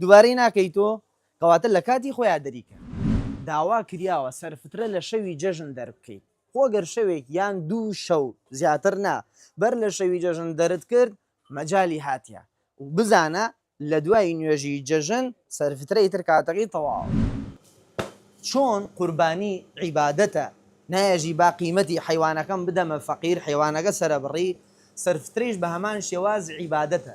دوبارەی ناکەی تۆ؟ کەواتە لە کاتی خۆیا دەریکە. داوا کریاوە سەرفترە لە شەوی جەژن دەربکەیت خۆ گەر شەوێک یان دوو شەو زیاتر نا بەر لە شەوی جەژن دەرت کرد مەجالی هاتیە و بزانە لە دوای نوێژی جەژن سەرفترەی تر کاتەکەی تەواوە چۆن قوربانی عیبادەتە نایەژی با قیمەتی حەیوانەکەم بدەمە فەقیر حەیوانەکە سەرەبڕی سەرفترەیش بە هەمان شێواز عیبادەتە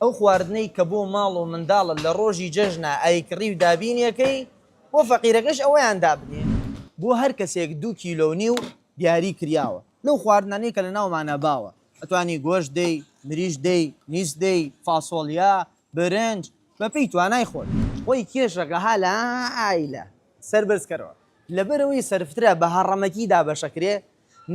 ئەو خواردنەی کە بۆ ماڵ و منداڵە لە ڕۆژی جەژنە ئایکڕی و دابینیەکەی بۆ فەقیرەکەش ئەوەیان دابنێ. بۆ هەر کەسێک دوو کیلۆ و نیو دیاری کریاوە لەو خواردنانەی کە لە ناومانە باوە ئەتوانی گۆشت دەی، مریشک دەی، میز دەی، فاسۆڵیا، برنج بە پێی توانای خۆت. خۆی کێشەکە ها لە ئایلە سەر بەرز کەرەوە لەبەرئەوەی سەرفترە بە هەڕەمەکی دابەشەکرێ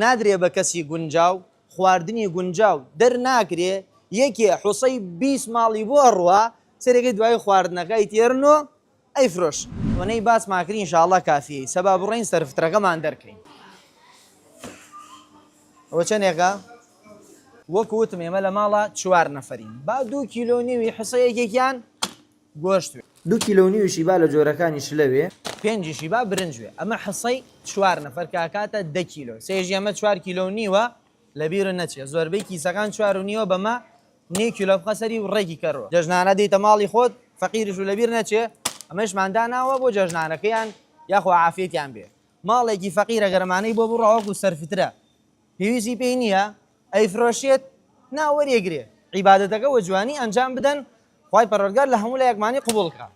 نادرێ بە کەسی گونجاو خواردنی گونجاو دەرناکرێ یەکێ حوسەی بیست ماڵی بۆ ئەڕوا سەرەکەی دوای خواردنەکە ئەیتێرن و ئەیفرۆشن. ئەوەنەی باسمان کرد ئینشاڵڵا کافیە ئیسە با بڕۆین سەرفترەکەمان دەرکەین ئەوە چەنێکە؟ وەکو وتم ئێمە لە ماڵا چوار نەفەرین با دوو کیلۆ و نیوی حوسە یەکێکیان. گۆشت وێ. دوو کیلۆ و نیوی شیبا لە جۆرەکانی شلە وێ. پێنجی شیبا برنج وێ. ئەمە حسەی چوار نەفەر کە ئەکاتە دە کیلۆ. سێژی ئەمە چوار کیلۆ و نیوە لە بیرو نەچێ. زۆربەی کیسەکان چوار و نیوە بەمە نیو کیلۆ بخە سەری و ڕێکی کە رو. جەژنانە دێیتە ماڵی خۆت فەقیرش و لە بیر نەچێ. ئەمەیشمان داناوە بۆ جەژنانەکەیان یاخوا عافیەتیان بێ. ماڵێکی فەقیرە گەر ئەمانەی بۆ بڕا وەکو سەرفترە پێویستی پێی نیە ئەیفرۆشێت نا وەریەگرێ عیبادەتەکە وەجوانی ئەنجام بدەن خوای پەروەردگار لەهەموو لایەکمانی قبوڵ کات.